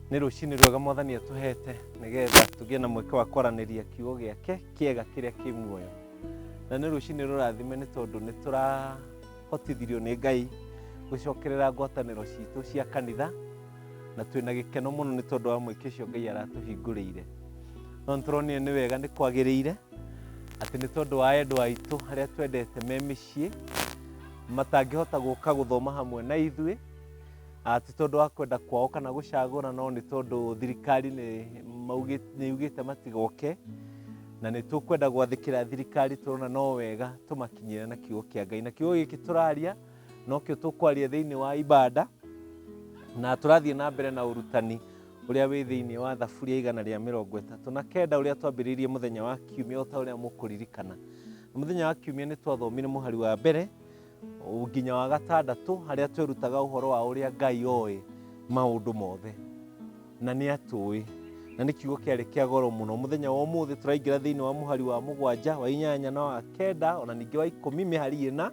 Nĩ rũcinĩ rwega Mwathani atũhete nĩgetha tũgĩe na mweke wa kwaranĩria kiugo gĩake kĩega kĩrĩa kĩ muoyo. Na nĩ rũcinĩ rũrathime nĩ tondũ nĩ tũrahotithirio nĩ Ngai gũcokerera ngwatanĩro citũ cia kanitha na twĩna gĩkeno mũno nĩ tondũ wa mweke ũcio Ngai aratũhingũrĩire. No nĩ tũronire nĩ wega nĩ kwagĩrĩire atĩ nĩ tondũ wa endwa aitũ arĩa twendete me mĩciĩ matangĩhota gũka gũthoma hamwe na ithuĩ Ah, ti tondũ wa kwenda kwao kana gũcagũra no nĩ tondũ thirikari nĩ maugĩ- nĩ yugĩte matigoke na nĩ tũkwenda gwathĩkĩra thirikari tũrona no wega tũmakinyĩre na kiugo kĩa ngai na kiugo gĩkĩ tũraria nokĩo tũkwaria thĩinĩ wa ibanda na tũrathiĩ na mbere na ũrutani ũrĩa wĩ thĩinĩ wa thaburia igana rĩa mĩrongo ĩtatũ na kenda ũrĩa twambĩrĩirie mũthenya wa kiumia o ta ũrĩa mũkũririkana mũthenya wa kiumia nĩ twathomire mũhari wa mbere nginya wa gatandatũ harĩa twerutaga ũhoro wa ũrĩa ngai oĩ maũndũ mothe na nĩ atũĩ na nĩ kiugo kĩarĩ kĩa goro mũno mũthenya wa ũmũthĩ tũraingĩra thĩinĩ wa mũhari wa mũgwanja wa inyanya na wa kenda ona ningĩ wa ikũmi mĩhari ĩna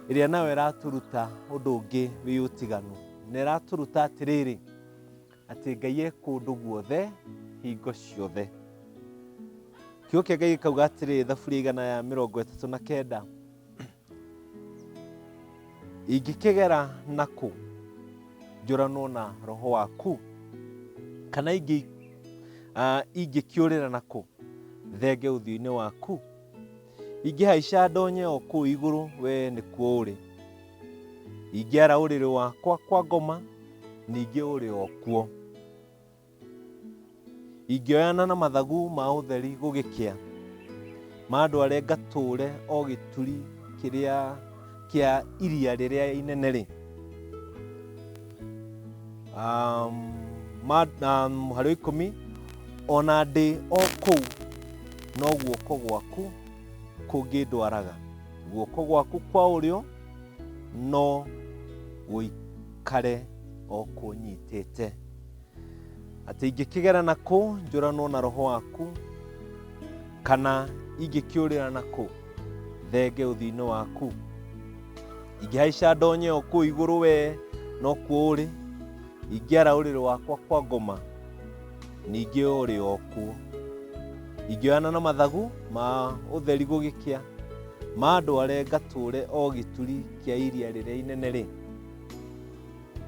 ĩrĩa nayo ĩratũruta ũndũ ũngĩ wĩ ũtiganu na ĩratũruta atĩrĩrĩ atĩ ngai e kũndũ guothe hingo ciothe kiugo kĩa ngai gĩkauga atĩrĩrĩ thaburia igana ya mĩrongo ĩtatũ na kenda ingĩkĩgera nakũ njũranwo na roho waku kana ingĩ ah, ingĩkĩũrĩra nakũ thenge ũthiũ-inĩ waku ingĩhaica ndonye o kũu igũrũ we nĩkuo ũrĩ ingĩara ũrĩrĩ wakwa kwa ngoma ningĩ ũrĩ o kuo ingĩoyana na mathagu ma ũtheri gũgĩkĩa mandware ngatũũre o gĩturi kĩrĩa kĩa iria rĩrĩa inene rĩ um, ma- na mũhari wa ikũmi ona ndĩ o kũu no guoko gwaku kũngĩndwaraga guoko gwaku kwa ũrĩo no gũikare o kũnyitĩte atĩ ingĩkĩgera na kũ njũranwo na roho waku kana ingĩkĩũrĩra na kũ thenge ũthiinĩ waku ingĩhaica ndonye o kũu igũrũ wee no kuo ũrĩ ingĩara ũrĩrĩ wakwa kwa ngoma ningĩ ũrĩ o kuo ingĩoyana na mathagu ma ũtheri gũgĩkĩa ma andware ngatũũre o gĩturi kĩa iria rĩrĩa inene rĩ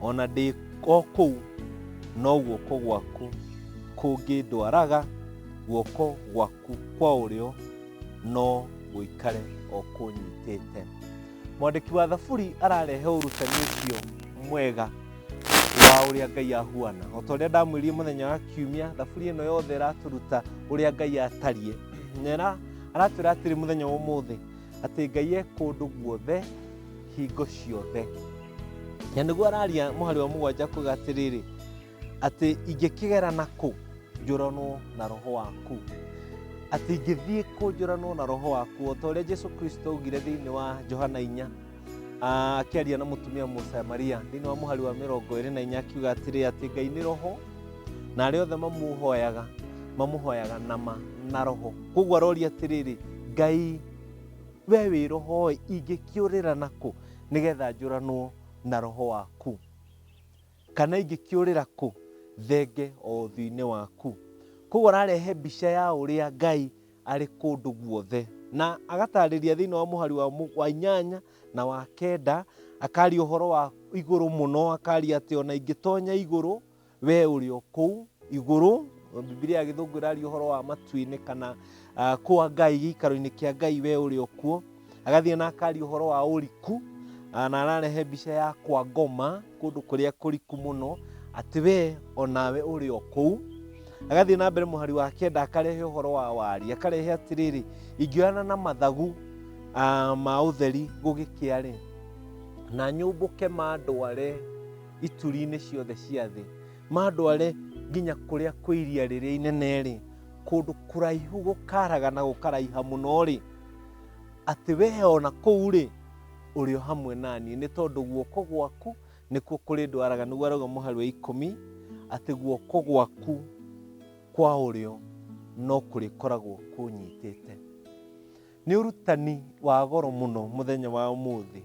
O na ndĩ o kũu, no guoko gwaku kũngĩndwaraga, guoko gwaku kwa ũrĩo no gũikare o kũnyitĩte. Mwandĩki wa Thaburi ararehe ũrutanĩtio mwega wa ũrĩa Ngai ahuana. O ta ũrĩa ndamwĩrire mũthenya wa kiumia, Thaburi ĩno yothe ĩratũruta ũrĩa Ngai atariĩ. Na ĩra- aratwĩra atĩrĩ mũthenya wa ũmũthĩ, atĩ ngai e kũndũ guothe hingo ciothe na nĩguo araria mũhari wa mũgwanja kuga atĩrĩrĩ atĩ ingĩkĩgera na kũ njũranwo na roho waku atĩ ingĩthiĩ kũ njũranwo na roho waku o ta ũrĩa jesu kristo augire thĩinĩ wa johana inya Ah, akĩaria na mũtumia mũsamaria thĩinĩ wa mũhari wa mĩrongo ĩrĩ na inya akiuga atĩrĩ atĩ ngai nĩ roho na arĩa othe mamũhoyaga mamũhoyaga na ma na roho koguo aroria atĩrĩrĩ ngai we wĩ roho ĩ ingĩkĩũrĩra nakũ nĩgetha njũranwo na roho waku kana ingĩkĩũrĩra kũ thenge o ũthiũ-inĩ waku koguo ararehe mbica ya ũrĩa ngai arĩ kũndũ guothe. Na agatarĩria thĩinĩ wa mũhari wa, mũ- wa inyanya na wa kenda, akaria ũhoro wa igũrũ mũno, akaria atĩ ona ingĩtonya igũrũ, we ũrĩ o kũu igũrũ. Bibilia ya gĩthũngũ ĩraria ũhoro wa matu-inĩ kana uh, kũa Ngai, gĩikaro-inĩ kĩa Ngai, we ũrĩ o kuo. agathiĩ na akari ũhoro wa ũriku ah, na ararehe mbica ya kwa ngoma kũndũ kũrĩa kũriku mũno atĩ we onawe ũrĩ o kũu agathiĩ na mbere mũhari wa kenda akarehe ũhoro wa wari akarehe atĩrĩrĩ ingĩoyana na mathagu ah, ma ũtheri gũgĩkĩa rĩ na nyũmbũke mandware ituri-inĩ ciothe cia thĩ mandware nginya kũrĩa kwĩ iria rĩrĩa inene rĩ kũndũ kũraihu gũkaraga na gũkaraiha mũno rĩ atĩ wee o na kũu-rĩ ũrĩ o hamwe naniĩ nĩ tondũ guoko gwaku nĩkuo kũrĩ ndwaraga nĩguo arauga mũhari wa ikũmi atĩ guoko gwaku kwa ũrĩo no kũrĩkoragwo kũnyitĩte nĩ ũrutani wa goro mũno mũthenya wa ũmũthĩ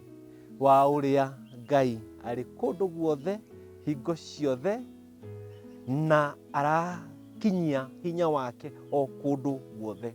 wa ũrĩa ngai arĩ kũndũ guothe hingo ciothe na arakinyia hinya wake o kũndũ guothe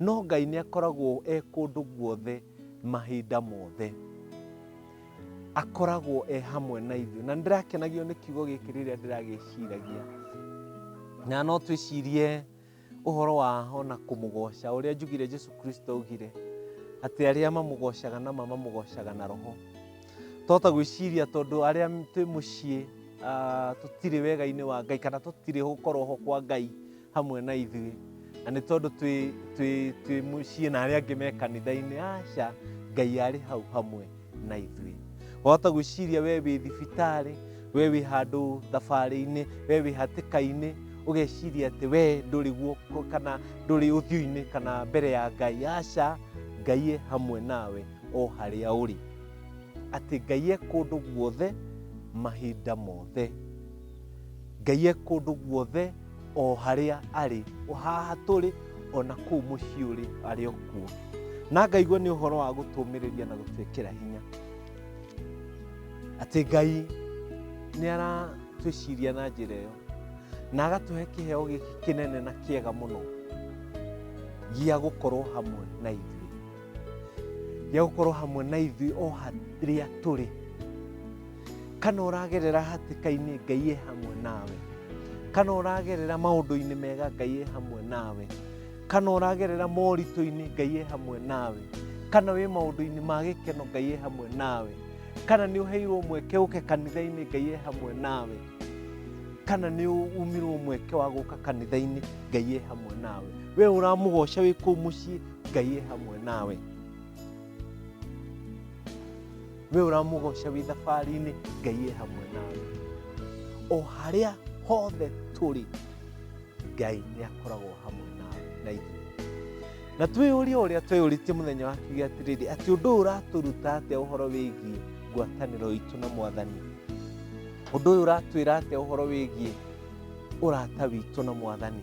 No Ngai nĩ akoragwo e kũndũ guothe mahinda mothe. Akoragwo e hamwe na ithuĩ. Na ndĩrakenagio nĩ kiugo gĩkĩ rĩrĩa ndĩragĩciragia. Na no twĩcirie ũhoro wa ona kũmũgoca ũrĩa njugire Jesu Kristo augire atĩ arĩa mamũgocaga na mamamũgocaga na roho. Twahota gwĩciria tondũ arĩa twĩ mũciĩ ah, tũtirĩ wega-inĩ wa Ngai kana tũtirĩ gũkorwo ho kwa Ngai hamwe na ithuĩ na nĩ tondũ twĩ- twĩ- twĩ mũciĩ na arĩa angĩ me kanitha-inĩ aca ngai arĩ hau hamwe na ithuĩ wahota gwĩciria we wĩ thibitarĩ we wĩ handũ thabarĩ-inĩ we wĩ hatĩka-inĩ ũgeciria atĩ we ndũrĩ guoko kana ndũrĩ ũthiũ-inĩ kana mbere ya ngai aca ngai e hamwe nawe o harĩa ũrĩ atĩ ngai e kũndũ guothe mahinda mothe ngai e kũndũ guothe o harĩa arĩ o haha tũrĩ o na kũu mũciĩ ũrĩ arĩ o kuo na ngaigua nĩ ũhoro wa gũtũmĩrĩria na gũtwĩkĩra hinya atĩ ngai nĩ aratwĩciria na njĩra ĩyo na agatũhe kĩheo gĩkĩ kĩnene na kĩega mũno gĩa gũkorwo hamwe na ithuĩ gĩa gũkorwo hamwe na ithuĩ o harĩa tũrĩ kana ũragerera hatĩka-inĩ ngai e hamwe nawe kana ũragerera maũndũ-inĩ mega ngai e hamwe nawe kana ũragerera moritũ-inĩ ngai e hamwe nawe kana wĩ maũndũ-inĩ ma gĩkeno ngai e hamwe nawe kana nĩ ũheirwo mweke ũke kanitha-inĩ ngai e hamwe nawe kana nĩ umirwo mweke wa gũka kanitha-inĩ ngai e hamwe nawe we ũramũgoca wĩ kũu mũciĩ ngai e hamwe nawe we ũramũgoca wĩ thabarĩ-inĩ ngai e hamwe nawe o harĩa hothe tũrĩ ngai nĩ akoragwo hamwe nawe na ithuĩ na twĩyũria ũrĩa tweyũrĩtie mũthenya wa kiuge atĩrĩrĩ atĩ ũndũ ũyũ ũratũruta atĩa ũhoro wĩgiĩ ngwatanĩro itũ na mwathani ũndũ ũyũ ũratwĩra atĩa ũhoro wĩgiĩ ũrata witũ na mwathani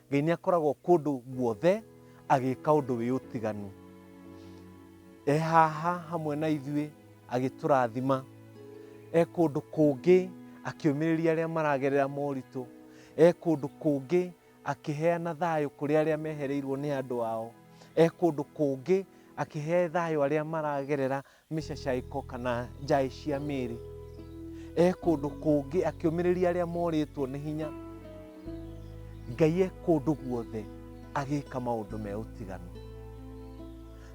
Ngai nĩ akoragwo kũndũ guothe agĩka ũndũ wĩ ũtiganu. E haha hamwe na ithuĩ agĩtũrathima, e kũndũ kũngĩ akĩũmĩrĩria arĩa maragerera moritũ, e kũndũ kũngĩ akĩheana thayũ kũrĩ arĩa mehereirwo nĩ andũ ao, e kũndũ kũngĩ akĩhe thayũ arĩa maragerera mĩcacaĩko kana njaĩ cia mĩĩrĩ e kũndũ kũngĩ akĩũmĩrĩria arĩa morĩtwo nĩ hinya ngai e kũndũ guothe agĩka maũndũ me ũtiganu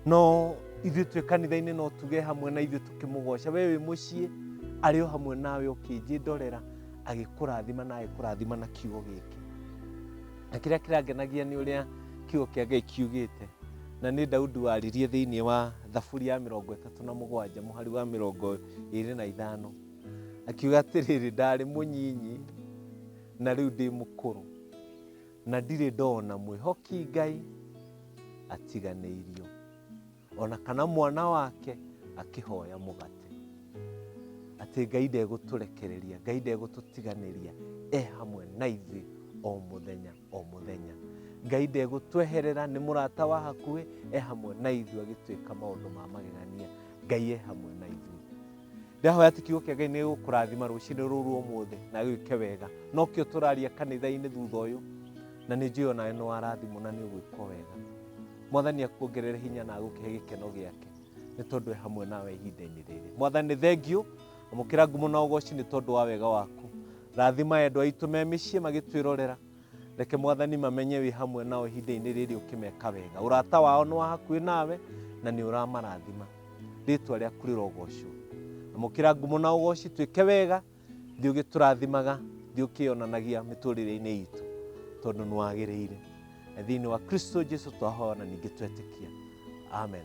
no ithuĩ twĩ kanitha-inĩ no tuge hamwe na ithuĩ tũkĩmũgoca we wĩ mũciĩ arĩ o hamwe nawe ũkĩnjĩndorera agĩkũrathima na agĩkũrathima na kiugo gĩkĩ na kĩrĩa kĩrangenagia nĩ ũrĩa kiugo kĩa ngai kiugĩte na nĩ daudi waririe thĩinĩ wa thaburi ya mĩrongo ĩtatũ na mũgwanja mũhari wa mĩrongo ĩrĩ na ithano akiuga atĩrĩrĩ ndarĩ mũnyinyi na rĩu ndĩ mũkũrũ na ndirĩ ndona mwĩhoki ngai atiganĩirio ona kana mwana wake akĩhoya mũgate atĩ ngai ndegũtũrekereria ngai ndegũtũtiganĩria e hamwe na ithuĩ o mũthenya o mũthenya ngai ndegũtweherera nĩ mũrata wa hakuhĩ e hamwe na ithuĩ agĩtuĩka maũndũ ma magegania ngai e hamwe na ithuĩ ndahoya atĩ kiugo kĩa ngai nĩ gũkũrathima rũcinĩ rũu rwa ũmũthĩ na gĩke wega nokĩo tũraria kanitha-inĩ thutha ũyũ na nĩ njũĩ onawe nĩ warathimwo na nĩ ũgwĩkwo wega mwathani akuongerere hinya na agũkĩhe gĩkeno gĩake nĩ tondũ e hamwe nawe ihinda-inĩ rĩrĩ mwathani thengiũ Amũkĩra ngumo na ũgooci nĩ tondũ wa wega waku. Rathima endwa aitũ me mĩciĩ magĩtwĩrorera. Reke Mwathani mamenye wĩ hamwe nao ihinda-inĩ rĩrĩ ũkĩmeka wega. Ũrata wao nĩ wa hakuhĩ nawe na nĩ ũramarathima. Rĩtwa rĩaku rĩrogocwo. Amũkĩra ngumo na ũgooci twĩke wega, thiĩ ũgĩtũrathimaga, thiĩ ũkĩyonanagia mĩtũrĩre-inĩ itũ tondũ nĩ wagĩrĩire. Na thĩinĩ wa Kristo Jesu twahoya na ningĩ twetĩkia. Amen.